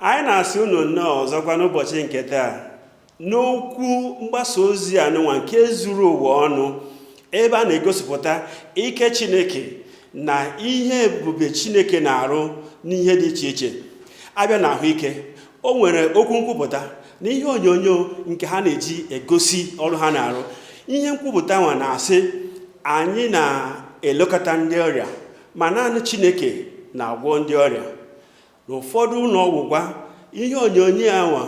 anyị na-asị unu nnọọ ọzọkwa n'ụbọchị nke taa n'okwu mgbasa ozi anụnwa nke zuru ụwa ọnụ ebe a na-egosipụta ike chineke na ihe ebube chineke na-arụ n'ihe dị iche iche a bịa na ahụike o nwere okwu nkwupụta na ihe onyonyo nke ha na-eji egosi ọrụ ha na-arụ ihe nkwupụta nwa na-asị anyị na-elekọta ndị ọrịa ma naanị chineke na-agwọ ndị ọrịa n'ụfọdụ ụlọ ọgwụgwọ ihe onyonyo anwa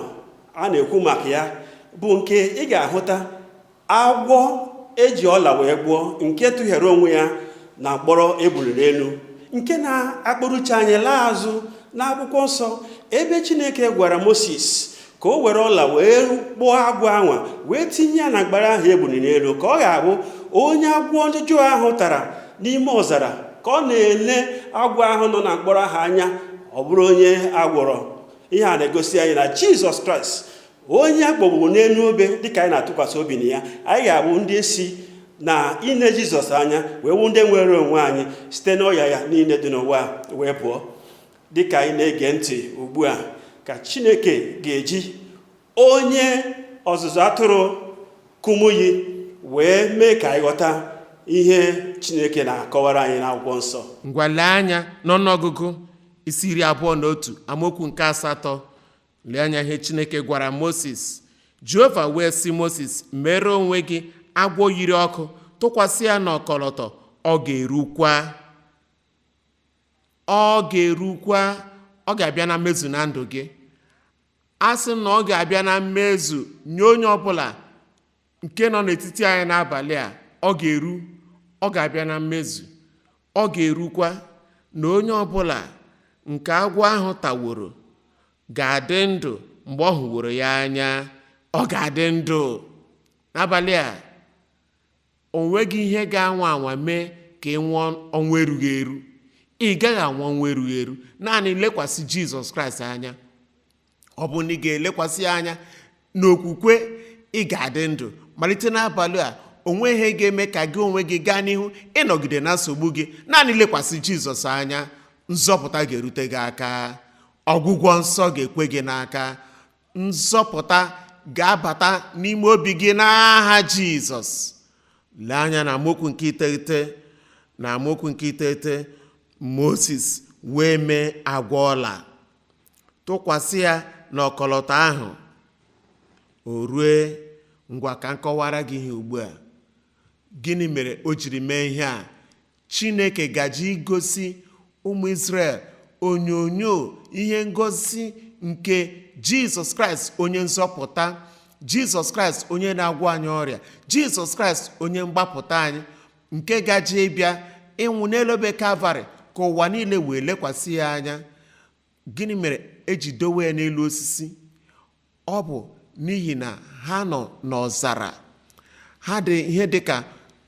a na-ekwu maka ya bụ nke ị ga-ahụta agwọ eji ọla wee kpụọ nke tụghere onwe ya na mkpọrọ eburu n'elu nke na-akpụrụcha anyị laa azụ n'akwụkwọ nsọ ebe chineke gwara moses ka o were ọla wee kpụọ agwọ anwa wee tinye ya na mkpara ahụ eburu n'elu ka ọ ga-abụ onye agwọ ndị ọjọọ ahụ tara n'ime ọzara ka ọ na-ele agwọ ahụ nọ na mkpọrọ ahụ anya ọ bụrụ onye a gwọrọ ihe a na-egosi anyị na jizọs kraịst onye akpọgburu n'elu obe dịka anyị na-atụkwasị obi na ya anyị ga-abụ ndị si na ine jizọs anya wee wụ ndị nwere onwe anyị site n'ọya ya niile dị n'ụwa wee pụọ dị ka anyị na-ege ntị ugbu a ka chineke ga-eji onye ọzụzụ atụrụ kumuyi wee mee ka anyị ghọta ihe chineke na-akọwara anyị n'akwụkwọ nsọ ngwa lee anya n'ọnụọgụgụ isi iri abụọ na otu amaokwu nke asatọ lee anya ihe chineke gwara moses jehova wee sị moses mere onwe gị agwọ yiri ọkụ tụkwasị ya n'ọkọlọtọ ọ ga-erukwa ọ ga-erukwa ọ ga-abịa na mmezu na ndụ gị a sị m na ọ ga-abịa na mmezu nye onye ọbụla nke nọ n'etiti anyị n'abalị a ọ ga-eru ọ ga-abịa na mmezu ọ ga-erukwa na onye ọbụla nke agwọ ahụ taworo ga-adị ndụ mgbe ọ hụworo ya anya ọ ga-adị ndụ n'abalị a O nweghị ihe ga-anwa anwa mee ka ị nwụọ ọnwụ erughị eru. Ị gaghị anwụ ọnwụ erughị eru. Naanị lekwasị Jizọs Kraịst anya. Ọ bụrụ na ị ga-elekwasị ya anya n'okwukwe, ị ga-adị ndụ. Malite n'abalị a, o nweghị ihe ga-eme ka gị onwe gị gaa n'ihu ịnọgide na nsogbu gị. Naanị lekwasị Jizọs anya, nzọpụta ga-erute gị aka. Ọgwụgwọ nsọ ga-ekwe gị n'aka. nzọpụta ga-abata n'ime obi gị n'aha jizọs lee anya na amaokwu nke iteghete na amaokwu nke iteghete moses wee mee agwọ ọla tụkwasị ya na ọkọlọtọ ahụ o rue ngwa ka m kọwara gị ihe ugbu a gịnị mere o jiri mee ihe a Chineke gaje igosi ụmụ Izrel onyonyo ihe ngosi nke Jizọs Kraịst onye nzọpụta Jizọs Kraịst onye na-agwọ anyị ọrịa Jizọs Kraịst onye mgbapụta anyị nke gaje ịbịa ịnwụ n'elu obe Kalvarị ka ụwa niile wee lekwasị ya anya gịnị mere eji dowe ya n'elu osisi ọ bụ n'ihi na ha nọ n'ọzara ha dị ihe dị ka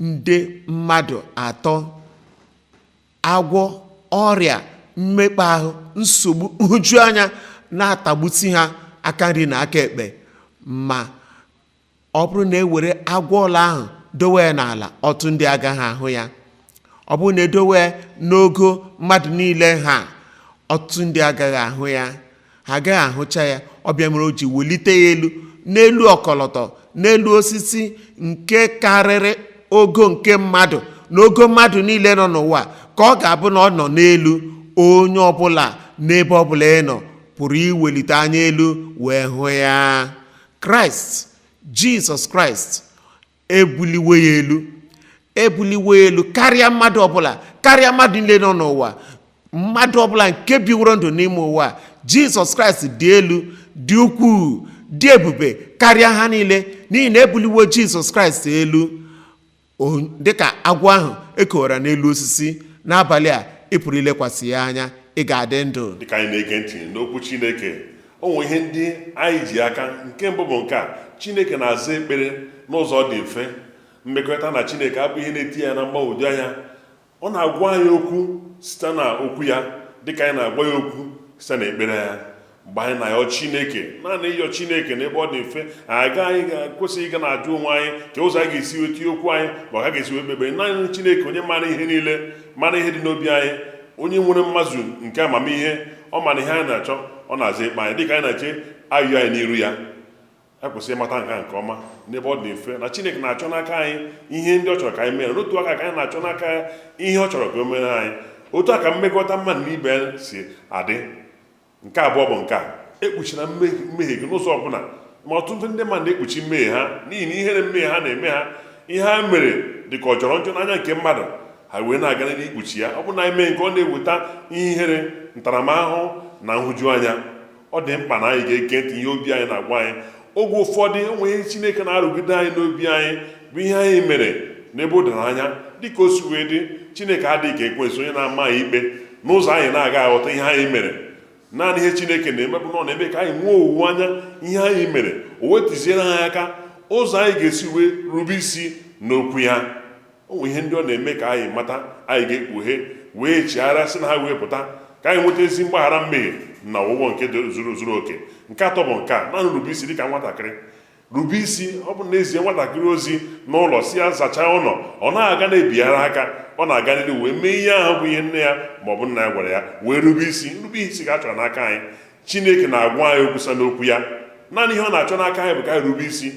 nde mmadụ atọ agwọ ọrịa mmekpa ahụ nsogbu nhụjuanya na-atagbusi ha aka nri na aka ekpe ma ọ bụrụ na e were agwọ ọla ahụ dowe ya n'ala ọtụtụ ndị agaghị ahụ ya ọ bụrụ na e dowe ya n'ogo mmadụ niile ha ọtụtụ ndị agaghị ahụ ya ha agaghị ahụcha ya ọ bụ ya mere o ji welite ya elu n'elu ọkọlọtọ n'elu osisi nke karịrị ogo nke mmadụ na ogo mmadụ niile nọ n'ụwa ka ọ ga-abụ na ọ nọ n'elu onye ọbụla n'ebe ọbụla ị nọ pụrụ iwelite anya elu wee hụ ya kraịst jizọs kraịst ebuliwo ya elu ebuliwo ya elu karịa mmadụ ọbụla karịa mmadụ niile nọ n'ụwa mmadụ ọbụla nke biworo ndụ n'ime ụwa a, jizọs kraịst dị elu dị ukwuu dị ebube karịa ha niile n'ihi na ebuliwo jizọs kraịst elu dịka agwọ ahụ ekowara n'elu osisi n'abalị a ị pụrụ ilekwasị ya anya ị ga-adị ndụ dịka anyị na-ege ntị n'okwu chineke o nwere ihe ndị anyị ji aka nke mbụ bụ nke a chineke na-aza ekpere n'ụzọ dị mfe mmekọrịta na chineke abụghị ihe na-etinye anyị na mgbagwoju anya Ọ na-agwa anyị okwu site na okwu ya dịka anyị na-agwa ya okwu site na ekpere anyị mgbe anyị na-ayọ Chineke naanị ịyọ Chineke n'ebe ọ dị mfe anyị ekwesịghị ịga na-ajụ onwe anyị ka ụzọ anyị ga-esi wee tinye okwu anyị ma ọ bụ ka a ga-esi wee kpee ekpere naanị Chineke onye mara ihe niile mara ihe dị n'obi anyị onye nwere mmazu nke amamihe ọ mara ihe anyị na-achọ ọ na-aza ekpere anyị dịka anyị na-eche ayịyọ anyị n'iru ya e kwesịrị ịmata nke nke ọma n'ebe ọ dị mfe na chineke na-achọ n'aka anyị ihe ndị ọ chọrọ ka anyị mere n'otu aka ka anyị na-achọ n'aka ya ihe ọ chọrọ ka o mere anyị otu a ka mmekọta mmadụ na ibe si adị nke abụọ bụ nke a ekpuchina mmehie gị n'ụzọ ọbụla ma ọtụtụ ndị mmadụ na-ekpuchi mmehie ha n'ihi na ihere mmehie ha na-eme ha ihe ha mere dị ka ọ jọrọ njọ n'anya nke mmadụ ha wee na-aga n'ihu ikpuchi ya ọ bụrụ na anyị mee nke a ọ na-eweta ihe ihere ntaramahụhụ na nhụjuanya ọ dị mkpa na anyị ga-ege ntị ihe obi anyị na-agwa anyị oge ụfọdụ o nwere ihe chineke na-arụgide anyị n'obi anyị bụ ihe anyị mere n'ebe o doro anya dịka o si wee dị chineke adịghị ka ekwensu onye na-ama anyị ikpe n'ụzọ anyị na-agaghị aghọta ihe anyị mere naanị ihe chineke na-eme bụ na ọ na-eme ka anyị nwee owuwe anya ihe anyị mere o wee tụziere anyị aka ụzọ anyị ga-esi wee rube isi n'okwu ya o nwere ihe ndị ọ na-eme ka anyị mata anyị ga-ekpughe wee chigharịa si na ha wee pụta ka anyị nweta ezi mgbaghara mmehie na ọgwụgwọ nke zuru oke nke atọ bụ nke a naanị rube isi dịka nwatakịrị rube isi ọ bụ na e zie nwatakịrị ozi n'ụlọ sị ya zachaa ụlọ ọ na-aga na-ebighara aka ọ na-aga n'ihu wee mee ihe ahụ bụ ihe nne ya ma ọ bụ nna ya gwara ya wee rube isi nrube isi ka a chọrọ n'aka anyị chineke na-agwa anyị okwu si n'okwu ya naanị ihe ọ na-achọ n'aka anyị bụ ka anyị rube isi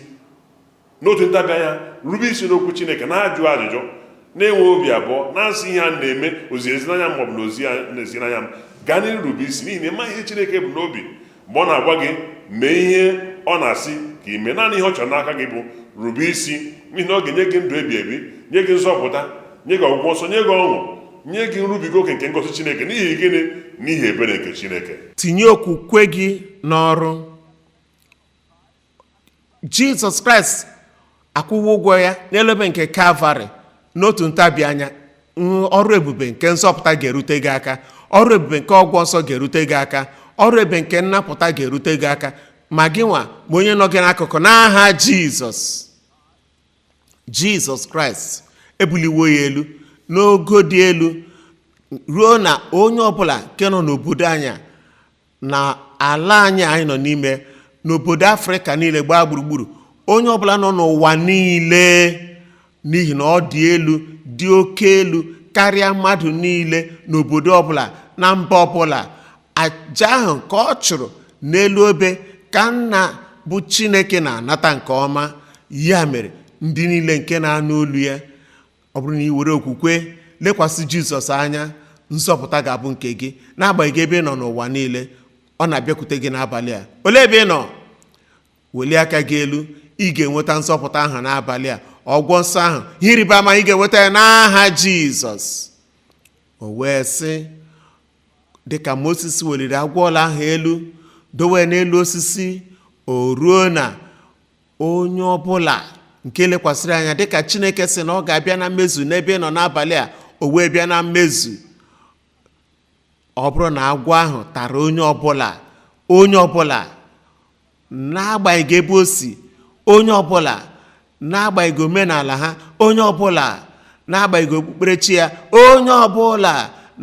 n'otu ntabi anya rube isi n'okwu chineke n'ajụghị ajụjụ n'enweghị obi abụọ n'asịghị ihe a na-eme o ziri ezi n'anya m maọbụ na o zighị ezi n'anya m gaa n'ihu rube isi n'ihi na ị maghị ihe chineke bu n'obi mgbe ọ na-agwa gị mee ihe ọ na-asị ka i mee naanị ihe ọ chọrọ n'aka gị bụ rube isi n'ihi na ọ ga-enye gị ndụ ebi ebi nye gị nzọpụta nye gị ọgwụgwọ nsọ nye gị ọṅụ nye gị nrubiga oke nke ngọzi chineke n'ihi gịnị n'ihi ebere nke chineke tinye okwukwe gị n'ọrụ jizọs kraịst akwụwo ụgwọ ya n'elu obe nke kalvarị n'otu ntabi anya ọrụ ebube nke nzọpụta ga-erute gị aka ọrụ ebube nke ọgwọ nsọ ga-erute gị aka ọrụ ebube nke nnapụta ga-erute gị aka ma gị nwa ma onye nọ gị n'akụkụ n'aha jizọs jizọs kraịst e buliwo ya elu n'ogo dị elu ruo na onye ọbụla nke nọ n'obodo anyị na ala anyị anyị nọ n'ime n'obodo afrịka niile gbaa gburugburu onye ọbụla nọ n'ụwa niile n'ihi na ọ dị elu dị oke elu karịa mmadụ niile n'obodo ọbụla na mba ọbụla aja ahụ ka ọ chụrụ n'elu obe ka nna bụ chineke na-anata nke ọma ya mere ndị niile nke na-anụ olu ya ọ bụrụ na i were okwukwe lekwasị jizọs anya nzọpụta ga-abụ nke gị n'agbanyeghị ebe ị nọ n'ụwa niile ọ na-abịakwute gị n'abalị a olee ebe ị nọ welie aka gị elu ị ga-enweta nzọpụta ahụ n'abalị a ọgwọ nsọ ahụ ihe ịrịba ama ị ga-enweta ya n'aha jizọs o wee sị dịka moses weliri agwọ ọla ahụ elu dowe n'elu osisi o ruo na onye ọ bụla nke lekwasịrị anya dịka chineke sị na ọ ga-abịa na mmezu n'ebe ị nọ n'abalị a o wee bịa na mmezu ọ bụrụ na agwọ ahụ tara onye ọbụla onye ọbụla n'agbanyeghị ebe o si onye ọbụla n'agbanyeghị omenala ha onye ọbụla n'agbanyeghị okpukperechi ya onye ọbụla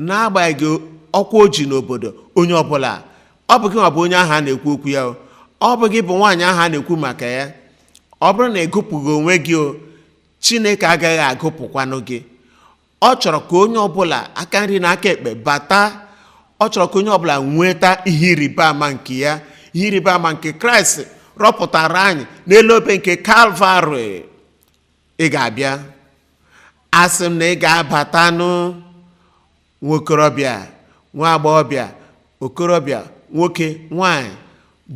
n'agbanyeghị ọkwa o ji n'obodo onye ọbụla ọ bụ gị nwa bụ onye ahụ a na-ekwu okwu ya o ọ bụ gị bụ nwaanyị ahụ a na-ekwu maka ya ọ bụrụ na ị gụpụghị onwe gị o chineke agaghị agụpụkwanụ gị ọ chọrọ ka onye ọbụla aka nri na aka ekpe bata ọ chọrọ ka onye ọbụla nweta ihe ịrịba ama nke ya ihe ịrịba ama nke kraịst rọpụtara anyị n'elu obe nke kalvarị ị ga-abịa asị m na ị ga-abatanụ nwa okorobịa nwa agbọghọbịa okorobịa nwoke nwanyị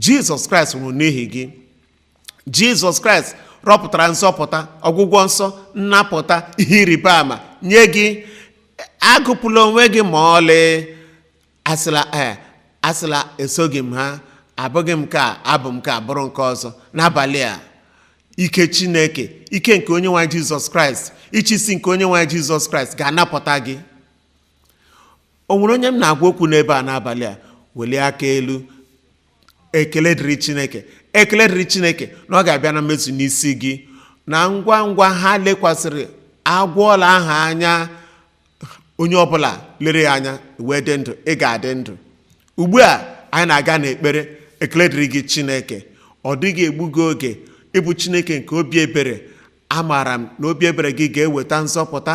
jizọs kraịst nwụrụ n'ihi gị jizọs kraịst rọpụtara nzọpụta ọgwụgwọ nsọ nnapụta ihe ịrịba ama nye gị agụpụla onwe gị ma ọlị asịla ee asịla esoghị m ha abụghị m nke a abụ m nke a bụrụ nke ọzọ n'abalị a ike chineke ike nke onye nwe anyị jizọs kraịst ịchịisi nke onye nwe anyị jizọs kraịst ga-anapụta gị o nwere onye m na-agwa okwu n'ebe a n'abalị a welie aka elu ekele dịrị chineke ekele dịrị chineke na ọ ga-abịa na mmezu n'isi gị na ngwa ngwa ha lekwasịrị agwọ ọla ahụ anya onye ọbụla lere ya anya wee dị ndụ ị ga-adị ndụ ugbu a anyị na-aga n'ekpere ekele dịrị gị chineke ọ dịghị egbu gị oge ị bụ chineke nke obi ebere amaara m na obi ebere gị ga-eweta nzọpụta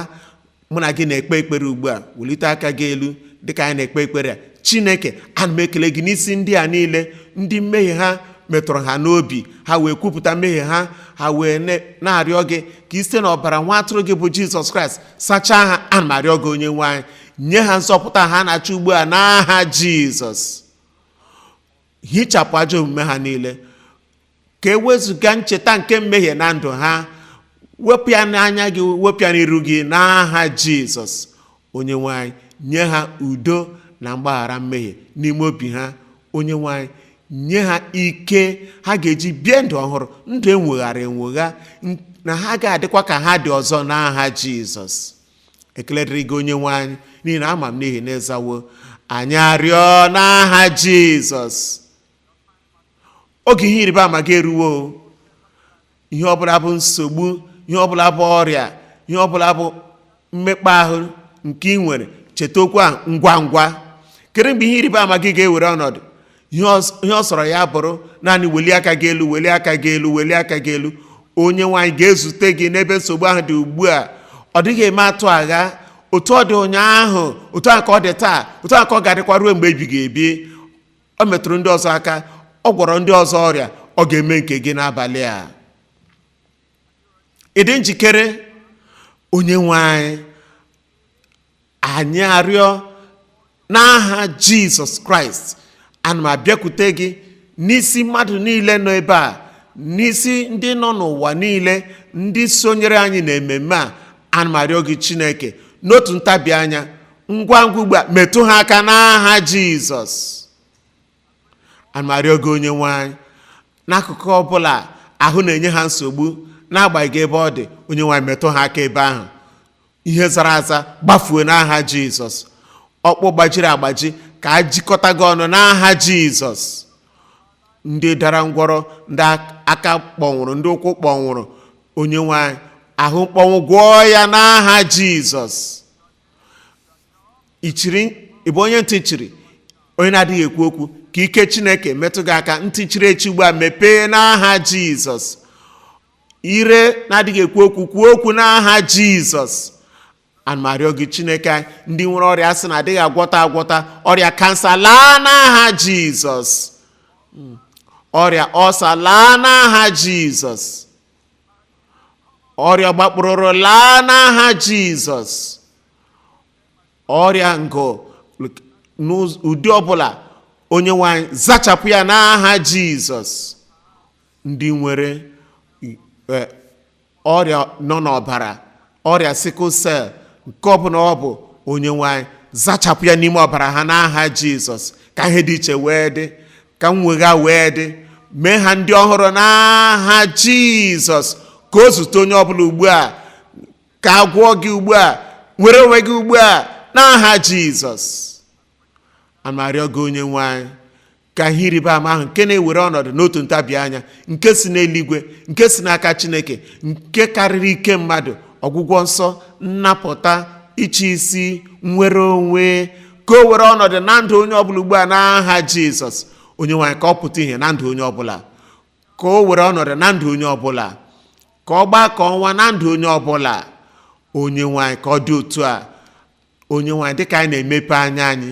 mụ na gị na-ekpe ekpere ugbu a welite aka gị elu dịka anyị na-ekpe ekpere a chineke ana m ekele gị n'isi ndị a niile ndị mmehie ha metụrụ ha n'obi ha wee kwupụta mmehie ha ha wee na-arịọ gị ka ị site n'ọbara nwa atụrụ gị bụ jizọs kraịst sachaa ha ana m arịọ gị onye nwe anyị nye ha nzọpụta ha na-achọ ugbu a n'aha jizọs hichapụ ajọ omume ha niile ka e wezụga ncheta nke mmehie na ndụ ha wepụ ya n'anya gị wepụ ya n'iru gị n'aha jizọs onye nwe anyị nye ha udo na mgbaghara mmehie n'ime obi ha onye nwe anyị nye ha ike ha ga-eji bie ndụ ọhụrụ ndụ enweghara enwegha n- na ha ga-adịkwa ka ha dị ọzọ n'aha jizọs ekele dịrị gị onye nwe anyị n'ihi na ama m n'ihi na ị zawo anyị arịọ n'aha jizọs oge ihe ịrịba ama gị eruwo o. ihe ọbụla bụ nsogbu ihe ọbụla bụ ọrịa ihe ọbụla bụ mmekpa ahụ nke ị nwere cheta okwu a ngwa ngwa kedu mgbe ihe ịrịba ama gị ga-ewere ọnọdụ ihe ọ sọrọ ya bụrụ naanị welie aka gị elu welie aka gị elu welie aka gị elu onye nwe anyị ga-ezute gị n'ebe nsogbu ahụ dị ugbu a ọ dịghị eme atụ agha otu ọ dị ụnyaahụ otu a ka ọ dị taa otu a ka ọ ga-adịkwa ruo mgbe ebighị ebi ọ metụrụ ndị ọzọ aka ọ gwọrọ ndị ọzọ ọrịa ọ ga-eme nke gị n'abalị a ị dị njikere onye nwe anyị anyị arịọ n'aha jizọs kraịst ana m abịakwute gị n'isi mmadụ niile nọ ebe a n'isi ndị nọ n'ụwa niile ndị sonyere anyị n'ememme a ana m arịọ gị chineke n'otu ntabi anya ngwa ngwa ugbu a metụ ha aka n'aha jizọs ana m arịọ gị onye nwe anyị n'akụkụ ọbụla ahụ na-enye ha nsogbu n'agbanyeghị ebe ọ dị onye nwe anyị metụ ha aka ebe ahụ ihe zara aza gbafuo n'aha jizọs ọkpụ gbajiri agbaji ka a jikọta gị ọnụ n'aha jizọs ndị dara ngwọrọ ndị aka kpọnwụrụ ndị ụkwụ kpọnwụrụ onye nwe anyị ahụ mkpọnwụ gwọọ ya n'aha jizọs ichiri ị bụ onye ntị chiri onye na-adịghị ekwu okwu ka ike chineke metụ gị aka ntị chiri echi ugbu a mepee n'aha jizọs ire na-adịghị ekwu okwu kwuo okwu n'aha jizọs ana m arịọ gị chineke anyị, ndị nwere ọrịa a sị na adịghị agwọta agwọta ọrịa kansa laa n'aha jizọs ọrịa ọsa laa n'aha jizọs ọrịa gbakpụrụrụ laa n'aha jizọs ọrịa ngụ n'ụdị ọbụla onye nwe anyị zachapụ ya n'aha jizọs ndị nwere ọrịa nọ n'ọbara ọrịa sickle cell nke ọbụla ọ bụ onye nwe anyị zachapụ ya n'ime ọbara ha n'aha jizọs ka ihe dị iche wee dị ka nwegha wee dị mee ha ndị ọhụrụ n'aha jizọs ka o zute onye ọbụla ugbu a ka a gwọọ gị ugbu a nwere onwe gị ugbu a n'aha jizọs ana m arịọ gị onye nwe anyị ka ihe ịrịba ama ahụ nke na-ewere ọnọdụ n'otu ntabi anya nke si n'eluigwe nke si n'aka chineke nke karịrị ike mmadụ ọgwụgwọ nsọ nnapụta ịchị isi nnwere onwe ka o were ọnọdụ na ndụ onye ọbụla ugbu a n'aha jizọs onye nwe anyị ka ọ pụta ihe na ndụ onye ọbụla ka o were ọnọdụ na ndụ onye ọbụla ka ọ gbaa ka ọnwa na ndụ onye ọbụla onye nwe anyị ka ọ dị otu a onye nwe anyị dịka anyị na-emepe anya anyị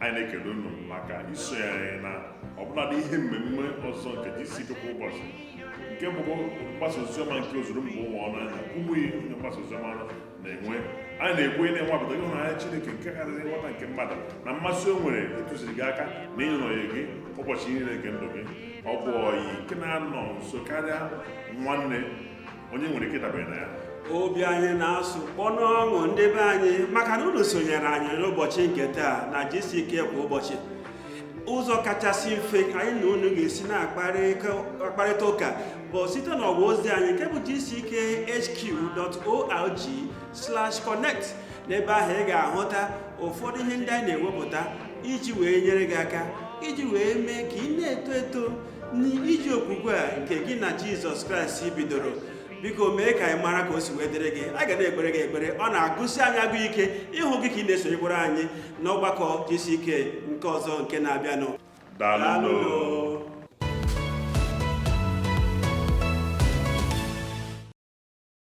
anyị na-ekele unu maka iso anyị na ọbụladị ihe mmemme ọzọ nke GCK kwa ụbọchị nke bụ mgbasa oziọma nke ozuru mba ụwa ọnụ anya Kumuyi onye mgbasa oziọma na-enwe anyị na-ekwe na ị nwapụta ịhụnanya Chineke nke karịrị nghọta nke mmadụ na mmasị o nwere ịtụziri gị aka na ịnọnye gị ụbọchị niile nke ndụ gị ọ bụ ọyị nke na-anọ nso karịa nwanne onye nwere ike dabere na ya obi anyị na-asụ kpọ n'ọṅụ ndị be anyị maka na unu sonyere anyị n'ụbọchị nke taa na gck kwa ụbọchị ụzọ kachasị mfe anyị na unu ga-esi na-akparịta ụka bụ site n'ọwa ozi anyị nke bụ gckhq.org/connect n'ebe ahụ ị ga-ahụta ụfọdụ ihe ndị anyị na-ewepụta iji wee nyere gị aka iji wee mee ka ị na-eto eto n'ije okwukwe a nke gị na jizọs kraịst bidoro biko mee ka anyị mara ka o si wee dịrị gị a ga na-ekpere gị ekpere ọ na-agụsi anyị agụụ ike ịhụ gị ka ị na-esonyekwara anyị n'ọgbakọ gck nke ọzọ nke na-abịanụ daalụ